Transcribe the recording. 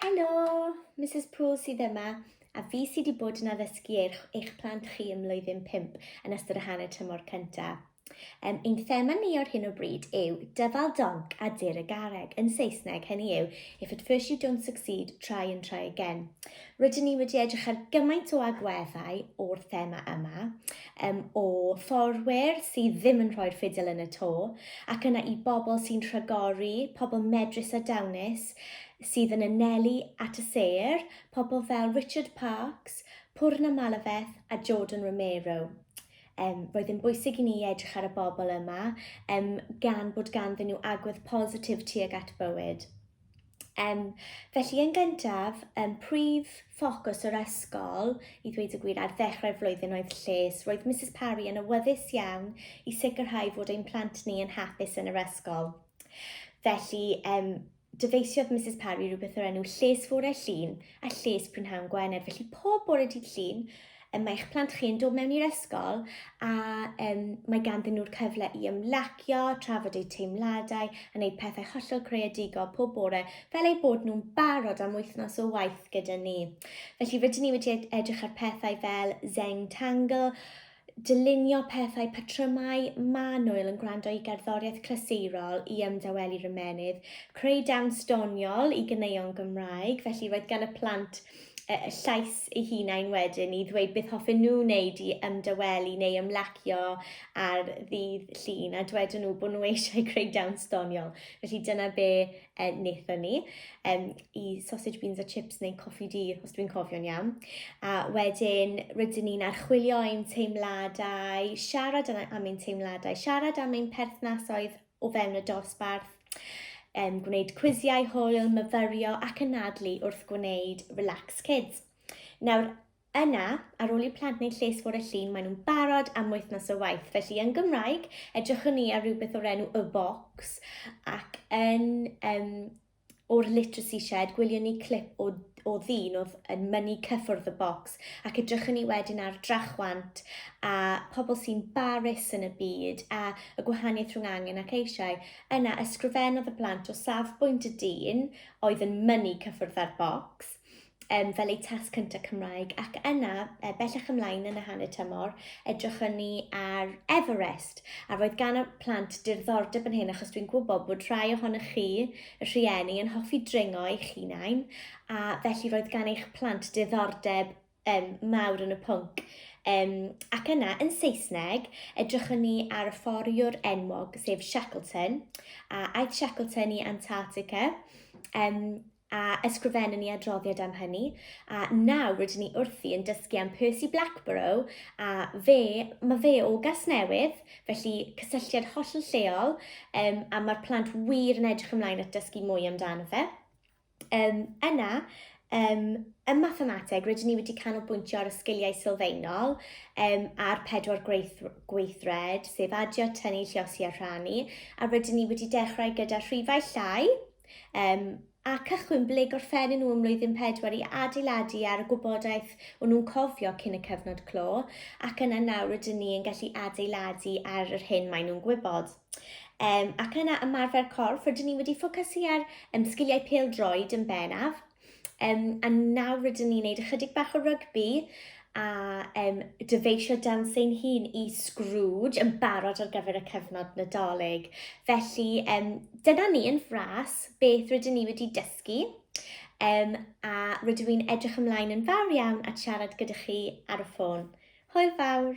Helo, Mrs Poole sydd yma, a fi sydd wedi bod yn addysgu eich, eich plant chi ym mlwyddyn 5 yn ystod y hanner tymor cyntaf. Um, ein thema ni o'r hyn o bryd yw dyfal donc a dir y gareg. Yn Saesneg, hynny yw, if at first you don't succeed, try and try again. Rydyn ni wedi edrych ar gymaint o agweddau o'r thema yma, Ym o forwyr sydd ddim yn rhoi'r ffidil yn y to, ac yna i bobl sy'n rhagori, pobl medrus a dawnus sydd yn anelu at y sêr, pobl fel Richard Parkes, Poorna Malaveth a Jordan Romero. Ym roedd yn bwysig i ni edrych ar y bobl yma, ym gan bod ganddyn nhw agwedd positif tuag at bywyd. Um, felly yn gyntaf, um, prif ffocws yr ysgol, i ddweud y gwir, ar ddechrau'r flwyddyn oedd lles. Roedd Mrs Parry yn awyddus iawn i sicrhau fod ein plant ni yn hapus yn yr ysgol. Felly, um, dyfeisiodd Mrs Parry rhywbeth o'r enw lles fore llun a lles prynhawn Gwener. Felly pob bore dydd llun, mae eich plant chi yn dod mewn i'r ysgol a um, mae ganddyn nhw'r cyfle i ymlacio, trafod eu teimladau a wneud pethau hollol creadigol pob bore fel eu bod nhw'n barod am wythnos o waith gyda ni. Felly rydyn ni wedi edrych ar pethau fel Zeng Tangle, dylunio pethau, patrymau, manwyl yn gwrando i gerddoriaeth clasurol i ymdawelu rymenydd, creu dawns doniol i gyneuon Gymraeg, felly roedd gan y plant llais eu hunain wedyn i ddweud beth hoffen nhw wneud i ymdawelu neu ymlacio ar ddydd llun a dwedon nhw bod nhw eisiau creu dawns doniol. Felly dyna be e, wnaethon ni, um, i sausage beans a chips neu coffi di, os dwi'n cofio'n iawn. A wedyn rydyn ni'n archwilio ein teimladau, siarad am ein teimladau, siarad am ein perthnasoedd o fewn y dosbarth, um, gwneud cwisiau hwyl, myfyrio ac anadlu wrth gwneud Relax Kids. Nawr, Yna, ar ôl i'r plant wneud lles fore llun, maen nhw'n barod am wythnos o waith. Felly, yn Gymraeg, edrychwn ni ar rhywbeth o'r enw y box ac yn um, O'r Literacy Shed, gwylion ni clip o, o ddyn oedd yn mynnu cyffwrdd y bocs, ac edrychwn ni wedyn ar drachwant a pobl sy'n barus yn y byd a y gwahaniaeth rhwng angen ac eisiau. Yna, ysgrifennodd y plant o safbwynt y dyn oedd yn mynnu cyffwrdd â'r bocs, um, fel eu test cyntaf Cymraeg ac yna, e, bellach ymlaen yn y hanner tymor, edrychwn ni ar Everest a roedd gan y plant dirddordeb yn hyn achos dwi'n gwybod bod rhai ohonych chi, y rhieni, yn hoffi dringo eich hunain a felly roedd gan eich plant diddordeb um, mawr yn y pwnc. Um, ac yna, yn Saesneg, edrychwn ni ar y fforiwr enwog, sef Shackleton, a aeth Shackleton i Antarctica, um, a ysgrifennu ni adroddiad am hynny, a nawr rydyn ni wrthi yn dysgu am Percy Blackborough, a fe, mae fe o gas newydd, felly cysylltiad holl yn lleol, um, a mae'r plant wir yn edrych ymlaen at dysgu mwy amdano fe. Um, yna, um, ym mathemateg, rydyn ni wedi canolbwyntio ar y sgiliau sylfaenol um, a'r pedwar gweith, gweithred, sef adio, tynnu, lliosi a rhannu, a rydyn ni wedi dechrau gyda rhifau llai, um, a cychwyn ble gorffennyn nhw ym mlwyddyn pedwar i adeiladu ar y gwybodaeth o'n nhw'n cofio cyn y cyfnod clo, ac yna nawr rydyn ni yn gallu adeiladu ar yr hyn maen nhw'n gwybod. Um, ac yna ymarfer corff, rydyn ni wedi ffocysu ar um, sgiliau pêl droed yn benaf. Um, a nawr rydyn ni'n gwneud ychydig bach o rygbi a um, dyfeisio dan sy'n hun i Scrooge yn barod ar gyfer y cyfnod nadolig. Felly, um, dyna ni yn fras beth rydyn ni wedi dysgu. Um, a rydw i'n edrych ymlaen yn fawr iawn at siarad gyda chi ar y ffôn. Hwyl fawr!